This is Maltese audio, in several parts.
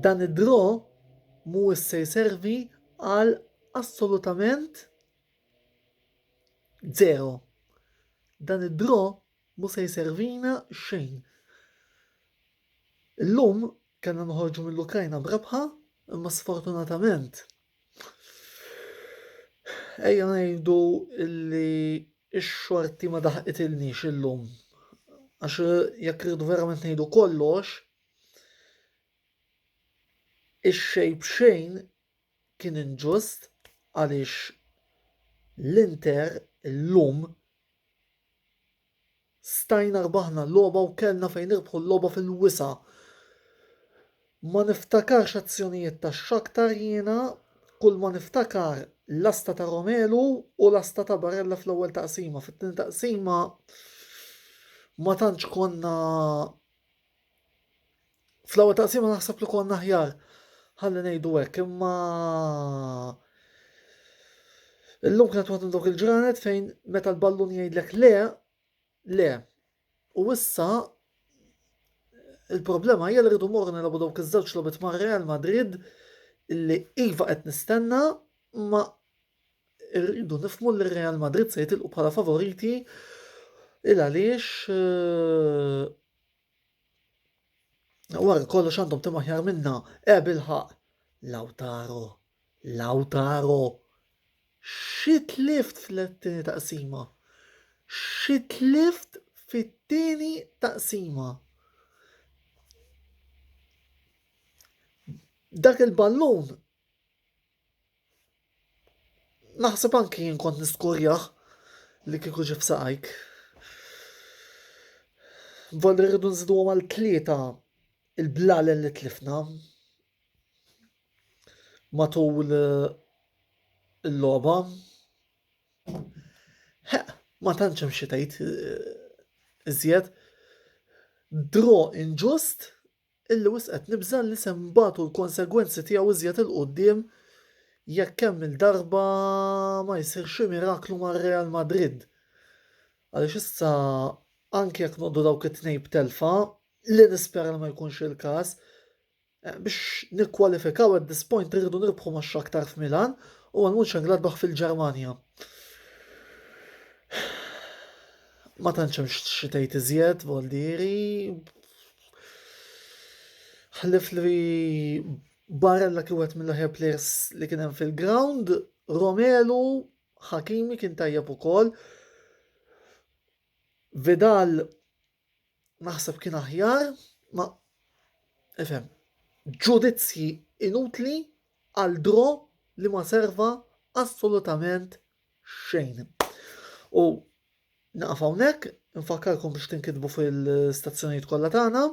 Dan id-draw mhuwiex se jservi għal assolutament zero. Dan id-draw mu se jservina xejn. Illum kellna nħorġu mill-Ukrajna b'rebħa, imma sfortunatament Ejja ngħidu li x-xorti ma daħqitilniex illum. Għax eh, jekk rridu verament ngħidu kollox, ix-xejb xejn kien inġust għaliex l-Inter illum Stajna rbaħna l-logħba u kellna fejn nirbħu l-logħba fil-wisa'. Ma niftakarx azzjonijiet ta' Shakhtar jiena, kulma niftakar lasta ta' Romelu u lasta ta' Barella fl-ewwel taqsima, fit-tieni taqsima ma tantx konna Fl-ewwel taqsima naħseb li konna aħjar ħalli ngħidu hekk, imma illum kienet waħda dawk il-ġranet fejn meta l-ballun jgħidlek le, le. U issa il-problema hija li rridu morru nilagħbu dawk iż-żewġ logħbiet ma' Real Madrid li iva qed nistenna ma rridu nifmu li Real Madrid se jitilqu bħala favoriti il għaliex eh, Wara kollox għandhom tim aħjar minna, e bilħaq. Lautaro, Lautaro, xit lift fl-tini taqsima. Xit lift fit-tieni taqsima. Dak il-ballun Naħseb anki jien kont niskurjah li kieku ġie f'saqajk. Volli rridu nżidu għal tlieta il-blalen li tlifna matul eh, il-logħba. Ma tantx hemm xi tgħid eh, iżjed. Draw inġust Illi wisq qed nibża' li se nbatu l-konsegwenzi tiegħu iżjed 'il quddiem jekk kemm-il darba ma jsir xi miraklu ma' Real Madrid. Għaliex issa anki jekk noqogħdu dawk it-tnejn b'telfa, li nispera li ma jkunx il-każ, biex nikkwalifikaw at this point irridu nirbħu ma' Shakhtar f'Milan u għal Mönchengladbach fil-Ġermanja. Ma tantx hemm xi tgħid iżjed, Valdieri, Ħlif li Barella kien wieħed mill-aħjar players li kien hemm fil-ground, Romelu, Hakimi kien tajjeb ukoll. Vidal naħseb kien aħjar, ma ifhem, ġudizzji inutli għal dro li ma serva assolutament xejn. U naqaf hawnhekk, nfakkarkom biex tinkitbu fil-stazzjonijiet kollha tagħna,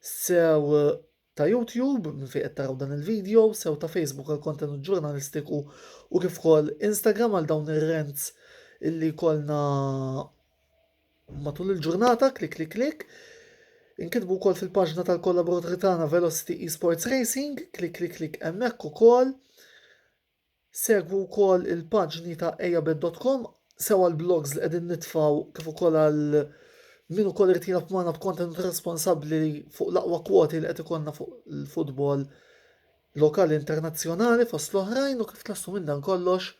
sew eh, ta' YouTube minn fejn qed taraw dan il-video, sew ta' Facebook għal kontenut ġurnalistiku u kif ukoll Instagram għal dawn ir-rents illi kolna matul il-ġurnata klik klik klik. Inkitbu wkoll fil-paġna tal-kollaboraturi tagħna Velocity Esports Racing, klik klik klik hemmhekk ukoll. Segwu wkoll il-paġni ta' Ejjabed dot com sew għall-blogs li qegħdin nitfgħu kif ukoll għal min ukoll irid jilgħab magħna b'kontenut responsabbli fuq l-aqwa kwoti li qed ikollna fuq il-futbol lokali internazzjonali fost l-oħrajn u kif tlestu minn dan kollox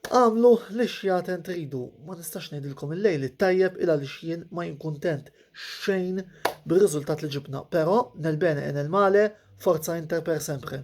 għamlu li xjaten tridu. Ma nistax ngħidilkom il-lejl it-tajjeb il għaliex jien ma jinkuntent xejn bir-riżultat li ġibna, però nel bene e nel male forza Inter per sempre.